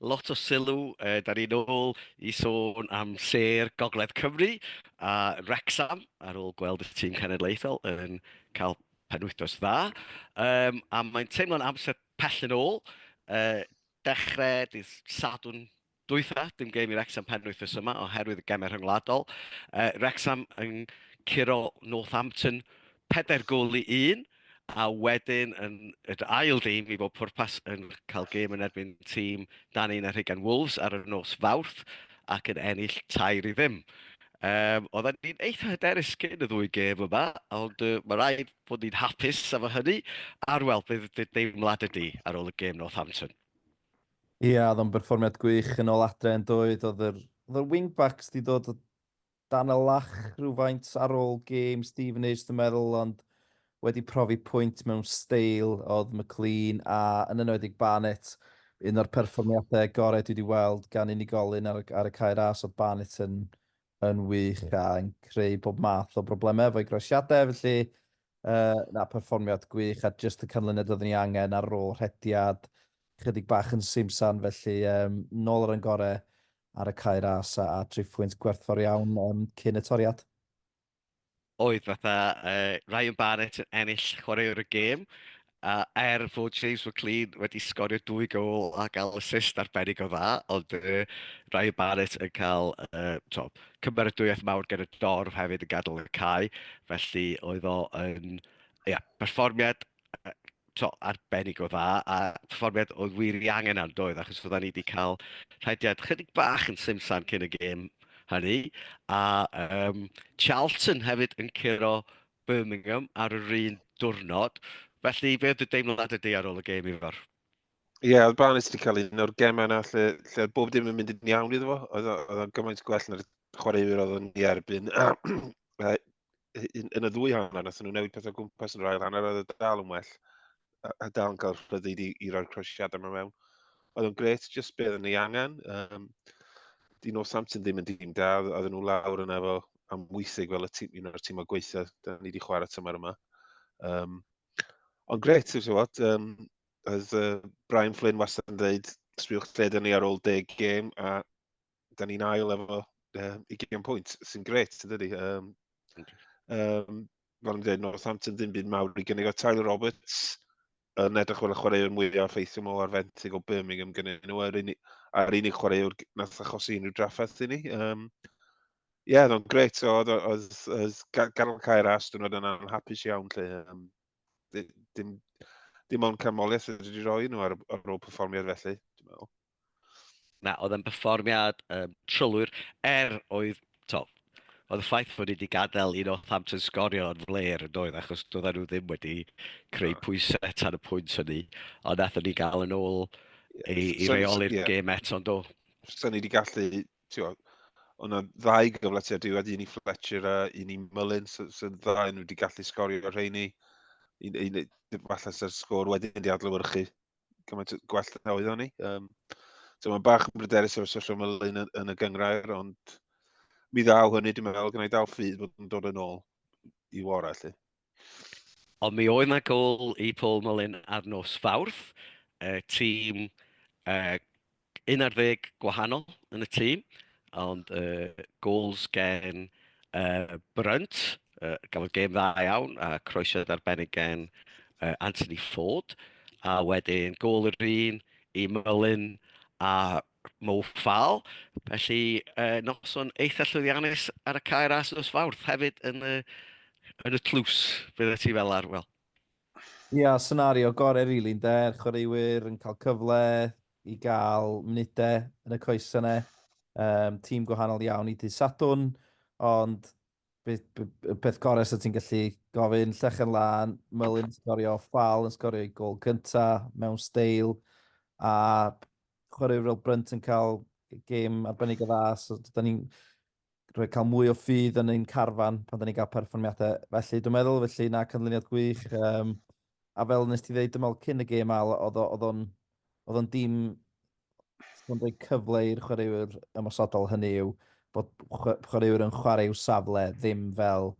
lot o sylw, uh, da ni'n ôl i sôn am ser Gogledd Cymru a Rexham ar ôl gweld y tîm cenedlaethol yn cael penwythnos dda. Um, a mae'n teimlo'n amser pell yn ôl. Uh, dechrau dydd Sadwn dwytha, dim gêm i Rexham penwythnos yma oherwydd y gemau rhyngwladol. Uh, Rexham yn curo Northampton 4 gol i 1. a wedyn yn yr ail dîm i bob pwrpas yn cael gêm yn erbyn tîm dan 11 Wolves ar y nos Fawrth ac yn ennill 3-0. Um, oedden ni'n eitha hyderus cyn y ddwy gêm yma, ond uh, mae rhaid bod ni'n hapus am y hynny, a'r wel, bydd dy deimlad ydi ar ôl y gêm Northampton. Ia, oedd o'n berfformiad gwych yn ôl adre yn doedd, oedd yr, oedd yr wingbacks di dod o Dan y lach rhywfaint ar ôl gêm Stevenage dwi'n meddwl ond wedi profi pwynt mewn steil oedd McLean a yn enwedig Barnett. Un o'r perfformiadau gorau dwi wedi weld gan unigolyn ar, ar y cae ras oedd Barnett yn, yn wych a'n creu bob math o broblemau efo'i groesiadau felly uh, na perfformiad gwych a just y canlyniad oeddwn ni angen ar ôl rhediad chydig bach yn simsan felly um, nôl ar yn gorau ar y cae ras a a tri phwynt gwerthfawr iawn yym cyn y toriad. oedd fatha uh, Ryan Barrett yn ennill chwaraewr y gêm a er fod James McLean wedi sgorio dwy gol a gael assist arbennig o dda, ond uh, Ryan Barrett yn cael uh, to, cymeradwyaeth mawr gen y dorf hefyd yn gadael y cae, felly oedd o yn yeah, perfformiad to, arbennig o dda, a perfformiad oedd wir i angen ar doedd, achos fydda ni wedi cael rhediad chydig bach yn simsan cyn y gêm hynny, a um, Charlton hefyd yn curo Birmingham ar yr un diwrnod, felly fe oedd y deimlad y di ar ôl y gêm i fawr? Ie, yeah, oedd Barnes wedi cael un o'r gemau yna lle, lle oedd bob dim yn mynd yn iawn iddo fo. Oedd o'n gymaint gwell na'r chwaraewyr oedd o'n i erbyn. yn, yn y ddwy hanner, nath nhw newid pethau gwmpas yn yr ail hanner, oedd y dal yn well. A, a dal yn cael rhyddid i, i roi'r croesiadau yma mewn. Oedd yn gret, jyst beth yn ei angen. Um, di nos Samson ddim yn dîm da, oedd nhw lawr yna efo am weithig fel y tîm, un o'r tîm o gweithio, da ni wedi chwarae tymor yma. Um, ond gret, ti'n gwybod, um, oedd uh, Brian Flynn wastad yn dweud, sbiwch lled ni ar ôl deg gêm, a da ni'n ail efo um, 20 pwynt, sy'n gret, yn dydi? Um, um, fel yn dweud, Northampton ddim byd mawr i gynnig o Tyler Roberts yn edrych fel y chwaraewr mwyaf ffeithiol mol ar fenthyg o Birmingham gyda nhw a'r unig, ar unig chwaraewr nath achosi unrhyw drafferth i ni. Um, Ie, yeah, oedd o'n gret. Oedd, oedd, oedd Garol Caer a Aston oedd yna'n hapus iawn lle. Um, dim, dim ond canmoliaeth wedi rhoi nhw ar, ar ôl perfformiad felly, dwi'n meddwl. Na, oedd yn perfformiad um, trylwyr, er oedd, to, oedd y ffaith fod wedi gadael un o Thamton sgorio yn fler yn doedd, achos doedden nhw ddim wedi creu pwysau tan y pwynt hynny, ond nath ni gael yn ôl i, i reoli'r yeah. gêm eto, ond do. Sa'n ni wedi gallu, ti'n o'n ddau gyfle ti a diwedd un i Fletcher a un i Mullin, sy'n so, so ddau nhw wedi gallu sgorio rheini. Un, un, falle sy'r sgôr wedyn wedi adlywyrchu. gymaint gwell na oedd o'n i. Um, so mae'n bach yn bryderus o'r sosial mylun yn, yn y gyngrair, ond mi ddaw hynny, dwi'n meddwl, gyda'i dal ffydd bod yn dod yn ôl i wara, lle. Ond mi oedd na gol i Paul Mullin ar nos Fawrth, uh, tîm uh, 11 gwahanol yn y tîm, ond yy gols gen yy Brunt, yy gafodd gêm dda iawn a croesiad arbennig gen yy Anthony Ford, a wedyn gol yr un i Mullin a Mo Fall. Felly yy noson eitha llwyddiannus ar y cae ras nos Fawrth hefyd yn y yn y tlws, beth wyt ti fel arwel? Ia, senario gorau rili ynde, chwaraewyr yn cael cyfle, i gael munudau yn y coesau yna. Yym, tîm gwahanol iawn i dydd Sadwrn, ond be, be, y peth gorau sydd ti'n gallu gofyn, llechen lan, Mylun yn sgorio, Ffal yn sgorio i gol cynta mewn steil, a chwaraewr fel Brunt yn cael gêm arbennig o dda, so da ni'n rhoi cael mwy o ffydd yn ein carfan pan da ni'n cael perfformiadau felly, dwi'n meddwl, felly na cynlyniad gwych. Um, a fel nes ti ddeud, dim ond cyn y gêm al, oedd o'n oedd o'n dim yn rhoi cyfle i'r chwaraewyr ymosodol hynny yw bod chwaraewyr yn chwarae i'w safle ddim fel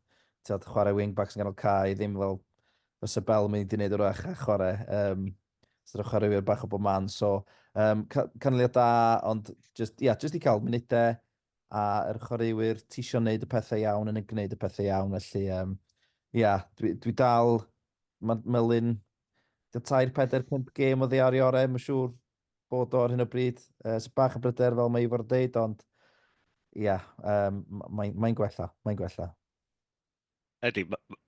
tyd, chwarae wingback sy'n ganol cae, ddim fel fysa Bell yn mynd i wneud o'r ach a chwarae. Um, sydd o'n chwaraewyr bach o bob man. So, um, canlyniad da, ond just, yeah, just i cael munudau, a yr chwaraewyr ti isio wneud y pethau iawn yn y gwneud y pethau iawn, felly um, ia, dwi, dwi dal, mae Melin, dy tair, pedair, pimp gêm o ddear i orau, mae'n siŵr bod o ar hyn o bryd, uh, sy'n bach y bryder fel mae Ifor yn deud, ond ia, um, mae'n mae gwella, mae'n gwella. Ydy, ma- ma-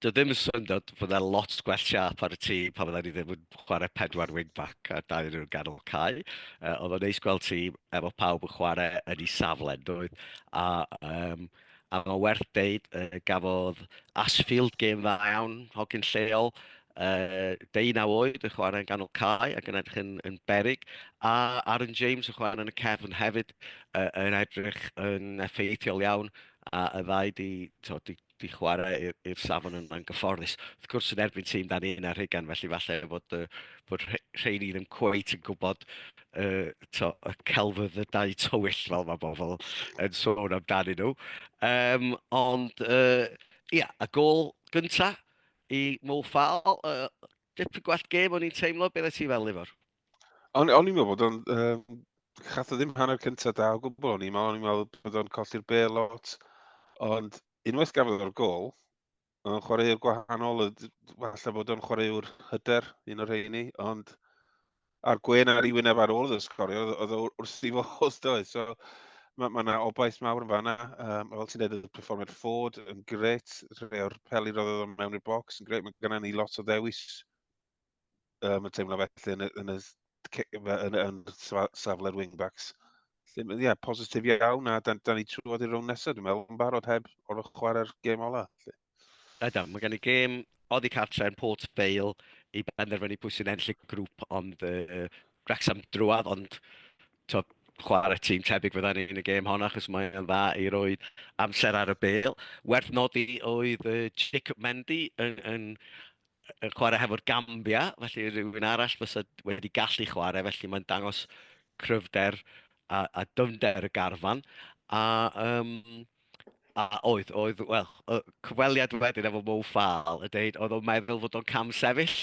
Dwi ddim yn syndod fod yna lot gwell siap ar y tî pan fydda ni ddim yn chwarae pedwar wing-back a dau yn ganol cae. Uh, oedd o'n neis gweld ti efo pawb yn chwarae yn ei safle, doedd. A, um, a mae werth deud, uh, gafodd Asfield gêm dda iawn, hogyn lleol, uh, deunaw oed yn chwarae yn ganol cae ac yn edrych yn, yn berig, a Aaron James yn chwarae yn y cefn hefyd uh, yn edrych yn effeithiol iawn a y ddau 'di t'o' 'di 'di chware i'r i'r safon yna'n gyfforddus. Wrth gwrs yn erbyn tîm 'dan ni yn ar hugan felly falle bod yy bod rhe- rheini ddim cweit yn gwybod yy t'o' y celfyddydau tywyll fel mae bobl yn sôn amdanyn nhw. Yym ond yy ia, y gol gynta i Mo Farr yy dipyn gwell gêm o'n i'n teimlo, be oeddet ti fel Ifor? O'n i'n meddwl bod o'n... Um, chath o ddim hanner cyntaf da o gwbl o'n i'n meddwl. O'n i'n meddwl bod o'n colli'r be lot. Ond unwaith gafodd o'r gol, o'n chwaraewr gwahanol, falle bod o'n chwaraewr hyder, un o'r rheini, ond a'r gwen ar ei wyneb ar ôl iddo sgorio, oedd o wrth i fodd doi. So, mae yna ma obaith mawr yn fanna. Um, fel ti'n edrych, perfformiad ffod yn gret, rhai o'r peli roedd oedd mewn i'r bocs yn gret. Mae gennym ni lot o ddewis um, yn teimlo felly yn y, yn y, yn, yn, safle'r wingbacks. Ie, yeah, positif iawn, a da, da ni trwodd i'r rownd nesaf, dwi'n meddwl, yn barod heb o'r chwarae'r gêm ola. Da, da, mae gen i gêm oddi cartre yn Port Vale i benderfynu pwy sy'n enll y grŵp, ond uh, Wrexham drwad, ond to, chwarae tîm tebyg fydda ni yn y gêm hon achos mae'n dda i roi amser ar y bel. Werth nodi oedd uh, Jacob Mendy yn, yn yn chwarae hefo'r Gambia, felly rhywun arall fysa wedi gallu chwarae, felly mae'n dangos cryfder a, a dyfnder y garfan. A, um, a oedd, oedd, wel, y cyfweliad wedyn efo Mo Fal y dweud, oedd o'n meddwl fod o'n cam sefyll,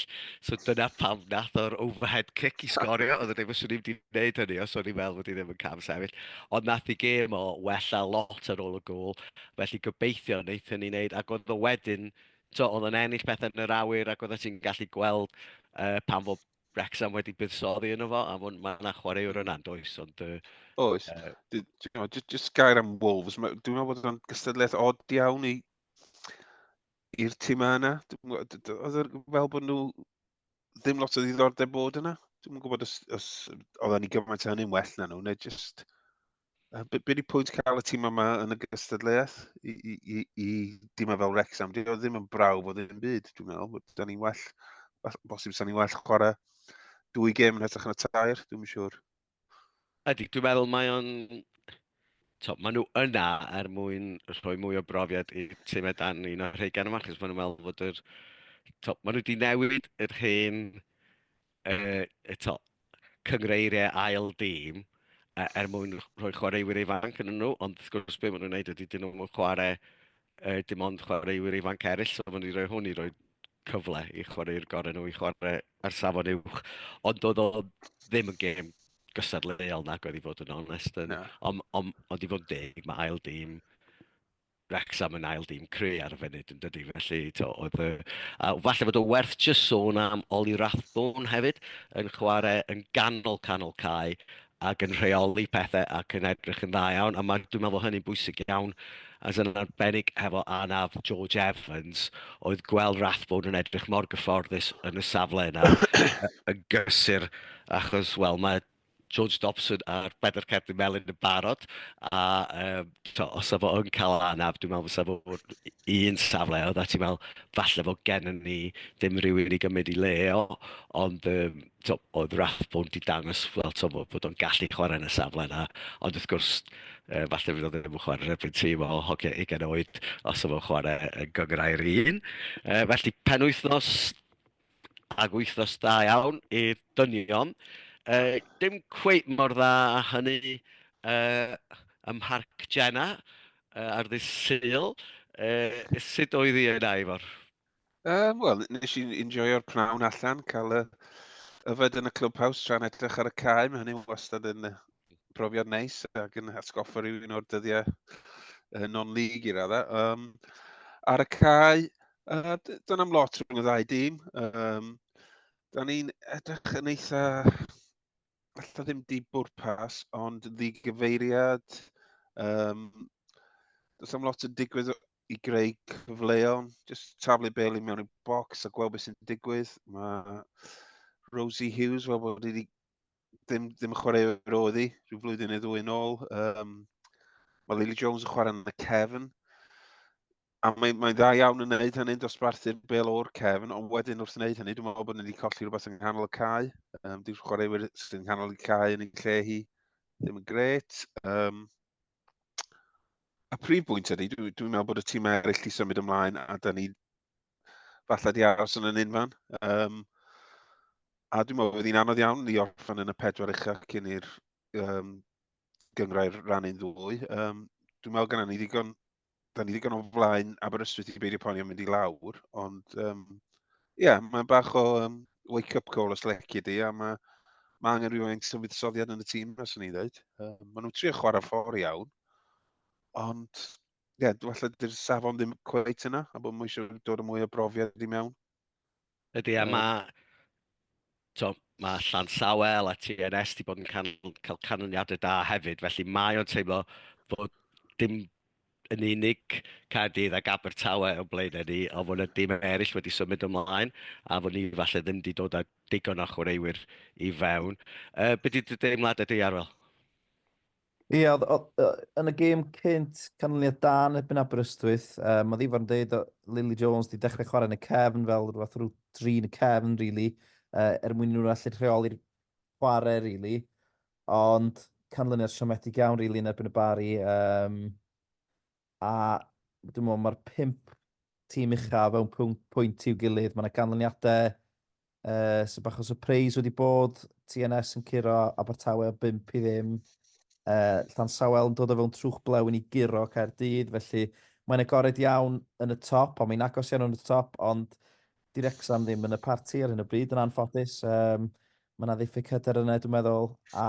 so dyna pam nath o'r overhead kick i sgorio, oedd yn dweud, fyswn i'n gwneud hynny os o'n i'n meddwl fod i ddim yn cam sefyll, ond nath i gêm o wella lot ar ôl y gol, felly gobeithio wnaethon ni wneud, ac oedd o wedyn tibod, oedd yn ennill pethau yn yr awyr ac oeddet ti'n gallu gweld uh, pan fod Wrexham wedi buddsoddi yno fo, a mae yna chwaraewr yna yn does, ond... Uh, Oes. Uh, just gair am Wolves, dwi'n meddwl bod yna'n gystadleuaeth od iawn i i'r tîm yna. Oedd e fel bod nhw ddim lot o ddiddordeb bod yna. Dwi'n gwybod os, os oedden ni gymaint o hynny'n well na nhw, neu just Be, be di pwynt cael y tîm yma yn y gystadleuaeth i, i, i, i dîm fel Rexham? Di o ddim yn braw bod ddim byd, dwi'n meddwl. Da ni'n well, bosib sa ni'n well chwarae dwy gêm yn hytrach na tair, dwi'n siŵr. Ydy, dwi'n meddwl mae o'n... So, maen nhw yna er mwyn rhoi mwy o brofiad i tîm edan un o'r rhai gan yma, chos maen nhw'n meddwl bod yr... So, maen nhw wedi newid yr hen uh, eto, cyngreiriau ail dîm uh, er mwyn rhoi chwaraewyr ifanc yn nhw, ond wrth gwrs beth maen nhw'n gwneud ydy dyn nhw'n chwarae uh, dim ond chwaraewyr ifanc eraill, so maen nhw'n rhoi hwn i roi cyfle i chwaraewyr gorau nhw i chwarae ar safon uwch. Ond doedd o ddim yn gêm gystadleuol nag oedd i fod yn onest. Yn, no. Ond on, on, on i fod yn deg, mae ail dîm Wrecsam yn ail dîm cry ar y funud yn dydi, felly to, oedd y... A falle bod o werth just sôn am Ollie Rathbone hefyd, yn chwarae yn ganol canol cae ac yn rheoli pethau ac yn edrych yn dda iawn, a mae, dwi'n meddwl bod hynny'n bwysig iawn, as yn arbennig hefo anaf George Evans, oedd gweld Rathbone yn edrych mor gyfforddus yn y safle yna, yn gysur, achos, wel, mae George Dobson a'r Pedair Cerdyn Melyn yn barod, a um, to, os efo yn cael anaf, dwi'n meddwl fysa fo'r un safle, oedd a ti'n meddwl, falle fod gen ni ddim rhywun i gymryd i le o, ond um, to, oedd Rathbone wedi dangos well, to, bod o'n gallu chwarae yn y safle yna, ond wrth gwrs, uh, falle fydd o ddim yn chwarae rhywbeth tîm o hoci ugen oed os efo chwarae yn gyngrau'r un. Uh, felly, penwythnos Ac wythnos da iawn i'r dynion. Uh, dim cweit mor dda a hynny uh, ym Mharc Jenna uh, ar ddydd Sul. Uh, sut oedd hi yna, Ifor? Uh, Wel, nes i'n enjoyo'r pnawn allan, cael y yfed yn y clubhouse tra'n edrych ar y cae. Mae hynny'n wastad yn, profiad neis ac yn atgoffa rhywun o'r dyddiau uh, non-league i radda. Um, ar y cae, uh, dyna am lot rhwng y ddau dîm. Um, da ni'n edrych yn eitha, allai ddim di bwrpas, ond ddigyfeiriad. Um, does am lot yn digwydd i greu cyfleon, just taflu bel i mewn i'r bocs a gweld beth sy'n digwydd. Mae Rosie Hughes, fel bod wedi ddim, ddim chwarae roedd i, rhyw flwyddyn neu ddwy yn ôl. Um, mae Lily Jones yn chwarae yn y cefn. A mae'n mae dda iawn yn gwneud hynny'n dosbarthu'r bel o'r cefn, ond wedyn wrth wneud hynny, dwi'n meddwl bod ni wedi colli rhywbeth yng nghanol y cae. Um, Dwi'n chwaraewyr sy'n yng nghanol y cae yn ei lle hi ddim yn gret. Um, a prif bwynt ydy, dwi'n dwi meddwl bod y tîm eraill wedi symud ymlaen a da ni falle di aros yn y ninfan. Um, a dwi'n meddwl bod hi'n anodd iawn i orffen yn y pedwar eich ac yn i'r um, gyngrau'r rhan un ddwy. Um, dwi'n meddwl gyda ni ddigon, da ni ddigon o flaen Aberystwyth i beidio poeni am mynd i lawr, ond ie, um, yeah, mae'n bach o um, wake-up call os lecu di, a mae ma angen rhywun sy'n fuddsoddiad yn y tîm, os o'n i'n dweud. Um, maen nhw'n trio chwarae ffordd iawn, ond yeah, falle dy'r safon ddim cweit yna, a bod mwy eisiau dod o mwy o brofiad i mewn. Ydy, a mae... To, mae Llan Sawel a TNS wedi bod yn can, cael canlyniadau da hefyd, felly mae o'n teimlo bod dim yn unig Caerdydd ac Abertawe o blaen ni, a fod yna dim eraill wedi symud ymlaen, a fod ni falle ddim wedi dod â digon o chwaraewyr i fewn. Uh, be di dy deimlad ydy, Arwel? Ie, oedd, oedd, yn y gêm cynt, canlyniad da yn erbyn Aberystwyth. Um, mae Ifor yn dweud o Lily Jones wedi dechrau chwarae yn y cefn fel rhywbeth rhyw dri yn y cefn, really, uh, er mwyn nhw'n allu rheoli'r chwarae, really. Ond canlyniad siomedig iawn, really, yn erbyn y bari. Um, a dwi'n meddwl mae'r pimp tîm ucha fewn pwynt, pwynt i'w gilydd. Mae yna ganlyniadau uh, sy'n bach o surprise wedi bod. TNS yn curo Abertawe o 5 i ddim. Uh, Llan Sawel yn dod o fewn trwch blewyn i guro Caerdydd, felly mae'n agored iawn yn y top, ond mae'n agos iawn yn y top, ond 'Di Wrecsam ddim yn y parti ar hyn o bryd yn anffodus. Um, mae yna ddiffyg hyder yna, dwi'n meddwl, a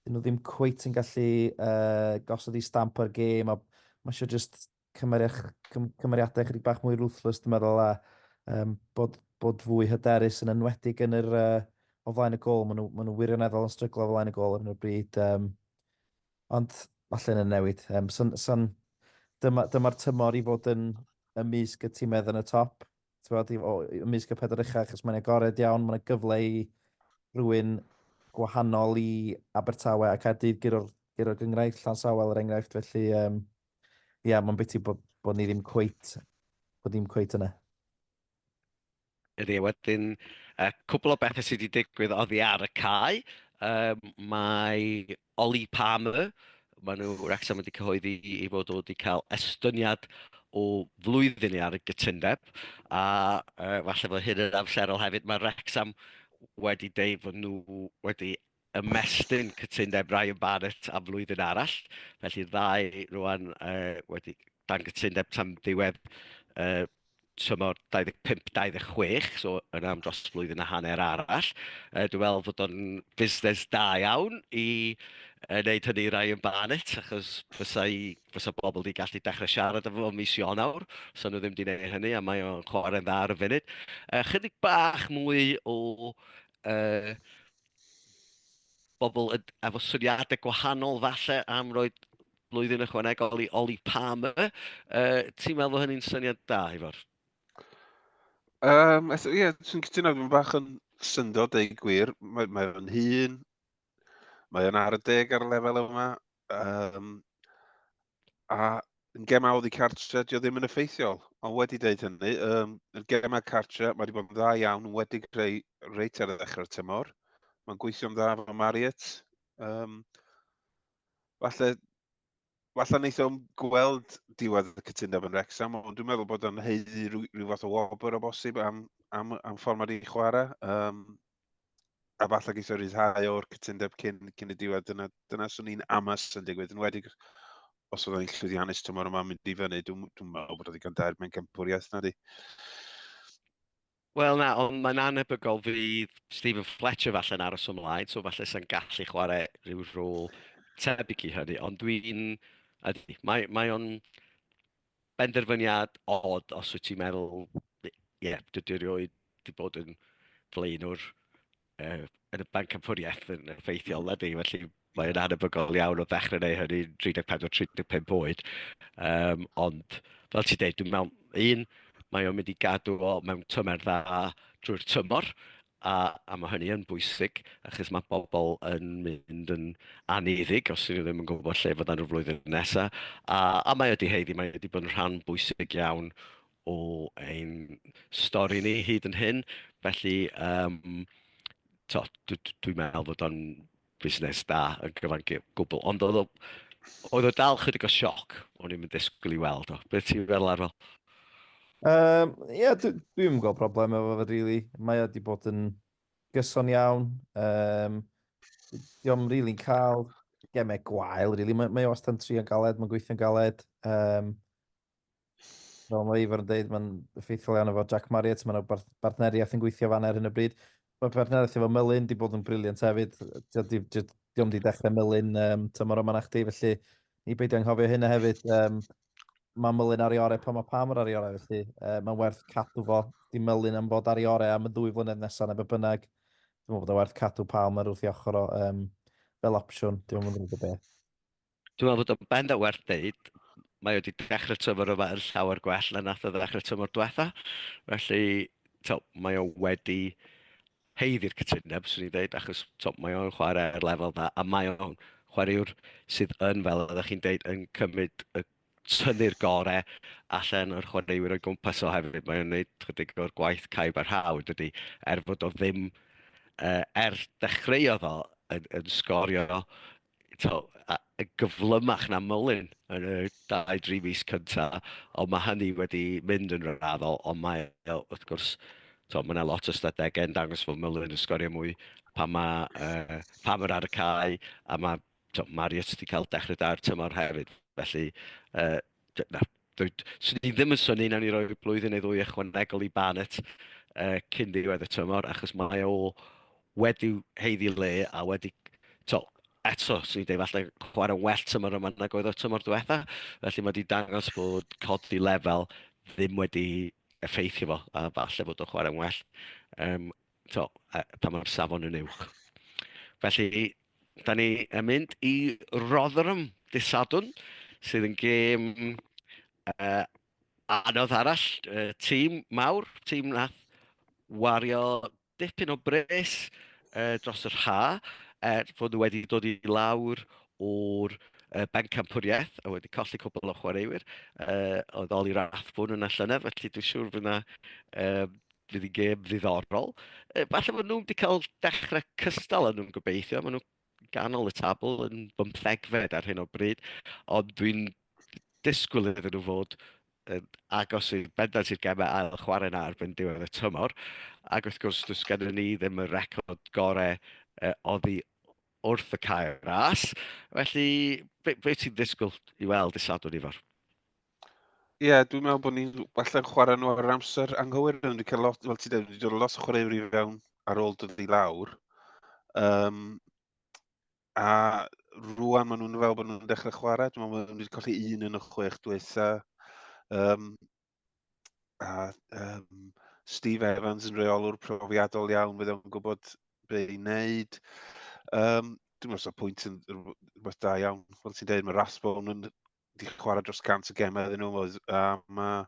dyn nhw ddim cweit yn gallu uh, gosod i stamp ar gêm, a mae eisiau just cymeriadau chydig bach mwy ruthless, dwi'n meddwl, a um, bod, bod fwy hyderus yn enwedig yn yr uh, o flaen y gol. Maen nhw, maen nhw wirioneddol yn stryglo o flaen y gol ar hyn o bryd. Um, Ond mae llun yn newid. Um, son, son, dyma'r dyma tymor i fod yn ymysg y tîmedd yn y top. Bod, o, ymysg y pedwar uchaf, achos mae'n agored iawn, mae'n gyfle i rhywun gwahanol i Abertawe ac Caerdydd gyro'r gyro gyngraifft, llan sawel er enghraifft, felly um, yeah, mae'n biti bod, bod ni ddim cweit, bod ni'n cweit yna. Ydy, a wedyn, yy cwpwl o bethe sy 'di digwydd oddi ar y cae. Yym, mae Ollie Palmer, ma' nw, Wrecsam wedi cyhoeddi 'i 'i fod o 'di ca'l estyniad o flwyddyn i ar y gytundeb, a yy falle fo hyn yn amserol hefyd, ma' Wrecsam wedi deud fod nw wedi ymestyn cytundeb Ryan Barrett am flwyddyn arall. Felly'r ddau rwan wedi dan gytundeb tan ddiwedd tymor 25-26, so yna am dros flwyddyn a hanner arall. Dwi'n meddwl fod o'n fusnes da iawn i wneud hynny i Ryan Barrett, achos fysa pobl wedi gallu dechrau siarad efo fo mis Ionawr, fysa nhw ddim wedi gwneud hynny, a mae o'n chwarae'n dda ar y funud. Chydig bach mwy o bobl yn, efo syniadau gwahanol falle am roi blwyddyn ychwanegol i Oli Palmer. Uh, ti'n meddwl bod hynny'n syniad da, Ifor? Um, ie, yeah, dwi'n cytuno, dwi'n bach yn syndod ei gwir. Mae, mae o'n hun, mae o'n ar y deg ar y lefel yma. Um, A yn gemau oddi cartre, dio ddim yn effeithiol. Ond wedi dweud hynny, um, yn gemau cartre, mae wedi bod yn dda iawn, yn wedi creu reit ar y ddechrau'r tymor. Mae'n gweithio'n dda fo Marriott. Um, falle, falle wneud o'n gweld diwedd y cytundeb yn Rexham, ond dwi'n meddwl bod o'n heiddi rhyw, rhyw fath o wobr o bosib am, am, am ffordd mae wedi chwarae. Um, a falle geisio rhyddhau o'r cytundeb cyn, cyn y diwedd, dyna, dyna swn i'n amas yn digwydd, yn wedi os oedd e'n llwyddiannus tymor yma mynd i fyny, dwi'n dwi meddwl bod oedd i gael dair mewn gympwriaeth na di. Wel na, ond mae'n anebygol fydd Stephen Fletcher falle yn aros ymlaen, so falle sy'n gallu chwarae rhyw rôl tebyg i hynny, ond dwi'n... Mae, mae o'n benderfyniad od os wyt ti'n meddwl, ie, yeah, dwi wedi rioed wedi bod yn flaenwr uh, yn y banc amffwriaeth yn effeithiol na di, felly mae'n anebygol iawn o ddechrau neu hynny 34-35 oed. Um, ond, fel ti'n dweud, dwi'n meddwl, un, mae o'n mynd i gadw o mewn tymer dda drwy'r tymor, A, a mae hynny yn bwysig, achos mae pobl yn mynd yn aneddig os ydyn nhw ddim yn gwybod lle fod nhw'r flwyddyn nesaf. A, a mae wedi heiddi, mae wedi bod yn rhan bwysig iawn o ein stori ni hyd yn hyn. Felly, um, to, dwi'n dwi meddwl fod o'n fusnes da yn gyfan gwbl, ond oedd o, oedd o dal chydig o sioc, o'n i'n mynd disgwyl i weld o. Beth ti'n feddwl ar fel? Um, Ie, yeah, dwi'n dwi gweld problem efo fe, really. Mae wedi bod yn gyson iawn. Um, Diolch yn rili'n cael gemau gwael, really. Mae, mae o wastad yn trio'n galed, mae'n gweithio'n galed. Um, Fel mae Ifor yn dweud, mae'n effeithiol iawn efo Jack Marriott, mae'n yna bartneriaeth yn gweithio fan ar hyn o bryd. Mae partneriaeth efo Melin wedi bod yn briliant hefyd. Diolch wedi dechrau Melin um, tymor yma na chdi, felly ni beidio anghofio hynna hefyd. Um, mae Melin ar ei orau pan mae Pam ar ei orau, felly uh, mae'n werth cadw fo. Di Melin am fod ar ei orau am y ddwy flynedd nesaf neu be bynnag. Dwi'n meddwl bod o'n werth cadw Pam ar wrth i ochr o um, fel opsiwn. Dwi'n meddwl bod o'n beth. Dwi'n meddwl bod o'n bend o werth dweud, mae wedi dechrau tymor yma yn llawer gwell na nath o ddechrau tymor diwetha. Felly, to, mae o wedi heiddi'r cytundeb, swn i'n dweud, achos to, mae o'n chwarae ar lefel dda, a mae o'n chwaraewr sydd yn, fel oeddech chi'n dweud, yn cymryd y tynnu'r gorau allan o'r chwaraewyr o'i gwmpas o hefyd. Mae o'n gwneud chydig o'r gwaith caib a'r haw, dydy, er fod o ddim, uh, er dechreuodd o yn, yn sgorio to, a, gyflymach na mylun yn y 2-3 mis cynta, ond mae hynny wedi mynd yn raddol, ond mae, wrth gwrs, to, mae yna lot o ystadegau yn dangos fod mylun yn sgorio mwy pa mae uh, pam yr ar y cae, a mae to, Marriott wedi cael dechrau da'r tymor hefyd. Felly, uh, na, swn i ddim yn syni nawn ni roi blwyddyn neu ddwy ychwanegol i Barnett uh, cyn ddiwedd y tymor, achos mae o wedi heiddi le a wedi... To, eto, swn i'n dweud, falle chwarae well tymor yma nag oedd o'r tymor diwetha. Felly mae wedi dangos bod codi lefel ddim wedi effeithio fo, a falle bod o'n chwarae'n well. Um, so, pa mae'r safon yn uwch. Felly, da ni yn mynd i Rotherham dydd Sadwn, sydd yn gêm uh, anodd arall, uh, tîm mawr, tîm nath wario dipyn o bres uh, dros yr ha, er fod nhw wedi dod i lawr o'r uh, bencampwriaeth a wedi colli cwbl o chwaraewyr uh, oedd Oli Rathbwn yn y llynedd, felly dwi'n siŵr fydd yna uh, fydd yn gêm ddiddorol. Falle maen nhw'n wedi cael dechrau cystal yn nhw'n gobeithio. Maen nhw'n ganol y tabl yn bymthegfed ar hyn o bryd. Ond dwi'n disgwyl iddyn nhw fod yn agos i'r bendant i'r gemau ail chwarae na erbyn diwedd y tymor. Ac wrth gwrs, dwi'n sgynnu ni ddim y record gorau uh, oddi wrth y cair ras. Felly, beth be ti'n ddisgwyl i weld i Sadwrn Ifor? Ie, yeah, dwi'n meddwl bod ni'n falle chwarae nhw ar amser anghywir. Dwi'n wedi cael lot, fel ti dweud, wedi dod lot o chwaraewyr i fewn ar ôl dod i lawr. Um, a rwan maen nhw'n fel bod nhw'n dechrau chwarae. Dwi'n meddwl bod nhw wedi colli un yn y chwech diwetha. Um, a um, Steve Evans yn reolwr profiadol iawn, bydd o'n gwybod be i wneud. Um, dwi'n meddwl bod pwynt yn rhywbeth da iawn. Fel ti'n dweud, mae Rasbon yn di chwarae dros 100 o gemau iddyn nhw, oedd, a mae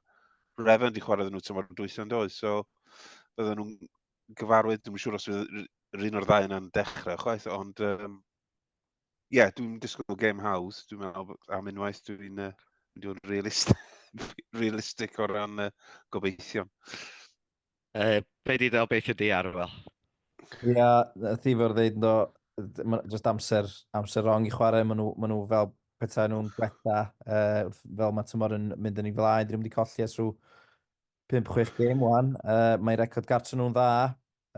Revan di chwarae iddyn nhw tymor yn dwytho yn doedd, so oedden nhw'n gyfarwydd, dwi'n siŵr os yr un o'r ddau yna'n dechrau chwaith, ond um, ie, yeah, dwi'n disgwyl gêm hawdd, dwi'n meddwl am unwaith, dwi'n uh, mynd i'n realistig, realistig o ran uh, gobeithion. Uh, be di ddel beth ydi Arwel? Ia, yeah, ti fawr ddeud ynddo, just amser, amser rong i chwarae, maen nhw, ma nhw fel pethau nhw'n gwella, uh, fel mae tymor yn mynd yn ei flaen, dyn nhw'n wedi colli as rhyw 5-6 gêm wan. Uh, mae record gartre nhw'n dda,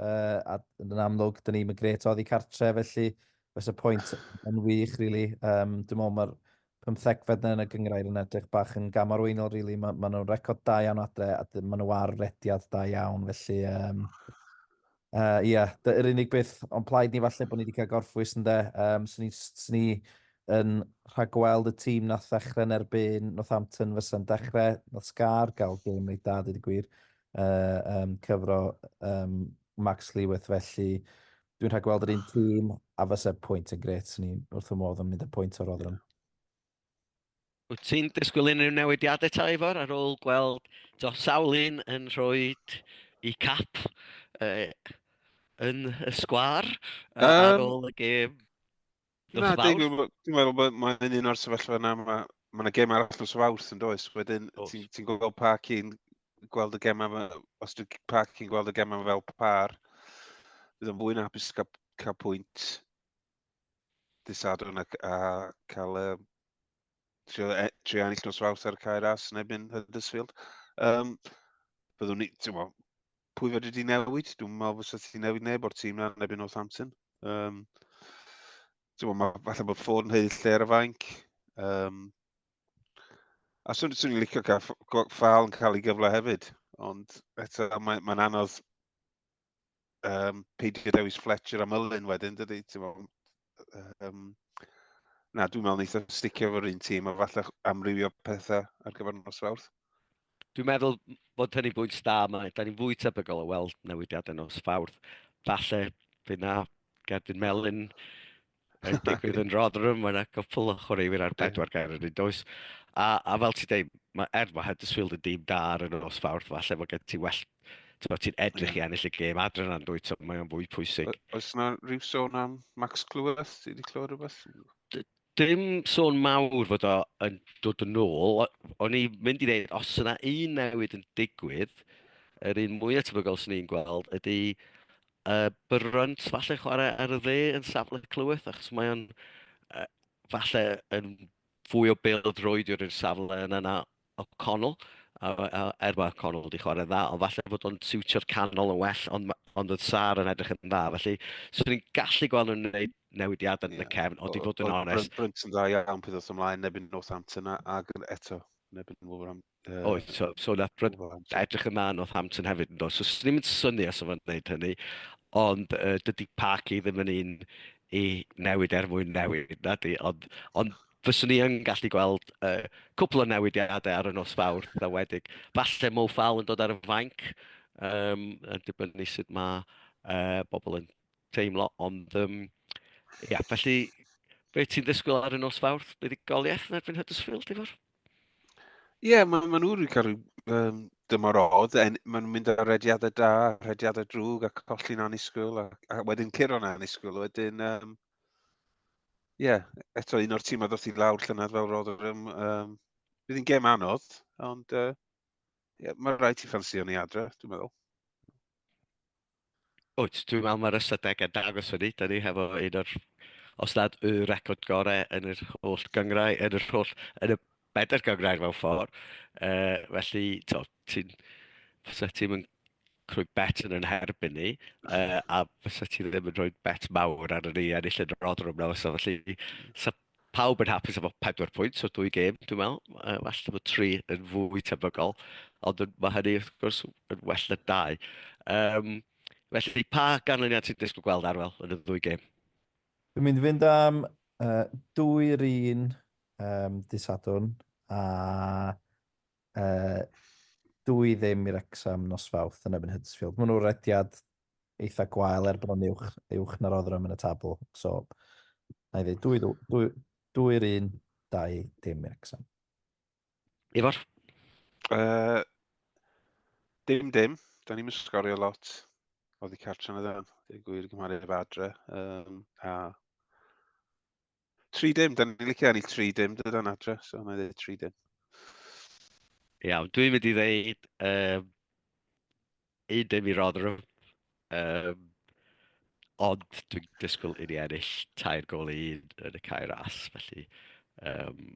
uh, a yn amlwg, dyn ni'n gret oddi cartre, felly fes y pwynt yn wych, really. Um, dwi'n meddwl mae'r pymthegfed yna yn y gynghrair yn edrych bach yn gam arweinol rili. Mae, mae nhw'n record da iawn adre a dy- maen nhw ar rediad da iawn felly um, uh, yeah, dy- yr unig beth o'n plaid ni falle bod ni wedi cael gorffwys ynde. Um, swn i, swn i yn rhagweld y tîm nath ddechrau yn erbyn Northampton fysa'n dechrau, nath Scar gael gêm reit da dweud y gwir, uh, um, cyfro um, Max Lewith felly Dwi'n rhaid gweld yr un tîm a fysa pwynt yn gret. Swn i'n wrth fy modd yn mynd y pwynt o'r Rotherham. Wyt ti'n disgwyl unrhyw newidiadau ta Ifor ar ôl gweld do, sawl un yn rhoi i cap uh, yn y sgwar uh, um, ar ôl y gêm? Na, dwi'n meddwl bod mae'n un o'r sefyllfa yna, mae ma yna gem arall nos o fawrth yn does. Wedyn, ti'n ti gweld pa cyn gweld y gem yma, os dwi'n pa cyn gweld y gem yma fel par, bydd o'n fwy na hapus cael, cael pwynt disadwn a, a cael uh, trio, e, trio ennill nos fawrth ar y cair as yn ebyn Huddersfield. Um, byddwn ni, ti'n mo, pwy fedri di newid? Dwi'n meddwl fysa ti'n newid neb o'r tîm na neb yn Northampton. Um, Ti'n meddwl, mae falle bod ffôn yn heill lle ar y fainc. Um, a swn, swn i'n licio cael ffal yn cael ei gyfle hefyd. Ond eto, mae'n mae anodd um, peidio dewis Fletcher am ylun wedyn, dydy? Ti'n meddwl, Um, na, dwi'n meddwl wneud o'n sticio fo'r un tîm, a falle amrywio pethau ar gyfer nos fawrth. Dwi'n meddwl bod hynny bwynt da, mae da ni'n fwy tebygol o weld newidiadau nos fawrth. Falle bydd na Gerdyn Melin yn digwydd yn Rotherham, mae yna gwpl o chwaraewyr ar bedwar gair yn un does. A, a fel ti dweud, mae, er mae Huddersfield yn dîm da ar y nos fawrth, falle mae gen ti well Ti'n ti edrych i ennill y gêm adre na'n dwy, ti'n mae'n fwy pwysig. Oes yna rhyw sôn am Max Clyweth? Ti wedi clywed rhywbeth? Dim sôn mawr fod o yn dod yn ôl. O'n i mynd i ddeud, os yna un newid yn digwydd, yr un mwyaf tebygol sy'n ni'n gweld ydy uh, Byrrant falle chwarae ar y dde yn safle clyweth, achos mae o'n uh, falle yn fwy o bêl droed i'r safle yna na O'Connell, er mae O'Connell wedi chwarae'n dda, ond falle fod o'n siwtio'r canol yn well, ond, ond oedd Sar yn edrych yn dda. Felly, swn i'n gallu gweld nhw'n gwneud newidiadau yn y cefn, ond i fod yn onest... Brent yn dda iawn peth os ymlaen, neb yn Northampton ac eto, neb yn Wolverhampton. Uh, Oes, so, so na, edrych yn dda yn Northampton hefyd yn dod. So, swn i'n syni os o'n gwneud hynny, ond uh, dydy Parky ddim yn un i newid er mwyn newid, na di, ond, ond fyswn i yn gallu gweld uh, cwpl o newidiadau ar y nos fawr dda wedig. Falle Mo Fal yn dod ar y fainc, um, yn dibynnu sut mae uh, bobl yn teimlo, ond um, ia, felly be ti'n ddysgwyl ar y nos fawr? Be di goliaeth yn erbyn Huddersfield, ti'n fawr? Ie, yeah, maen ma nhw'n cael rhyw um, dymor odd, en, maen nhw'n mynd ar rediadau da, rediadau drwg a colli'n anisgwyl, a, a wedyn curo yn anisgwyl, wedyn um, ie, yeah, eto un o'r tîmau ddoth i lawr llynedd fel Rotherham. Um, bydd hi'n gem anodd, ond uh, yeah, mae rhaid ti ffansio ni adre, dwi'n meddwl. Wyt, dwi'n meddwl mae'r ystadegau dangos hynny. Da ni hefo un o'r, os nad y record gorau yn yr holl gyngrau, yn yr holl, yn y bedair gyngrau mewn ffordd. Uh, felly, ti'n... Fysa ti'n rhoi bet yn yn herbyn ni, uh, a fysa ti ddim yn rhoi bet mawr ar ni a ennill yn yr odrwm na fysa. Felly, sa pawb yn hapus efo 4 pwynt o dwy gêm, dwi'n meddwl. Uh, well efo 3 yn fwy tebygol, ond mae hynny, wrth gwrs, yn well na 2. Um, felly, pa ganlyniad ti'n disgwyl gweld arwel yn y ddwy gêm? Dwi'n mynd i fynd am uh, dwy'r un um, disadwn a Dw i ddim i Wrecsam nos Fawrth yn erbyn Huddersfield. Maen nhw'n rediad eitha gwael er bod nhw'n uwch, uwch na Rotherham yn y tabl. So, na i ddweud, dwy, dwy, dwy, dwy'r un, dau dim i Wrecsam. Ifor? Uh, dim dim, da ni'n sgorio lot o ddi cartre yn y ddewn, dwi'n gwir gymharu efo adre. Um, a Tri dim, da ni'n licio ennill tri dim, dyda'n adres, so na dweud tri dim. Iawn, dwi'n mynd i ddeud um, un dim i Rotherham, um, ond dwi'n disgwyl i ni ennill tair gol i un yn y cair as, felly um,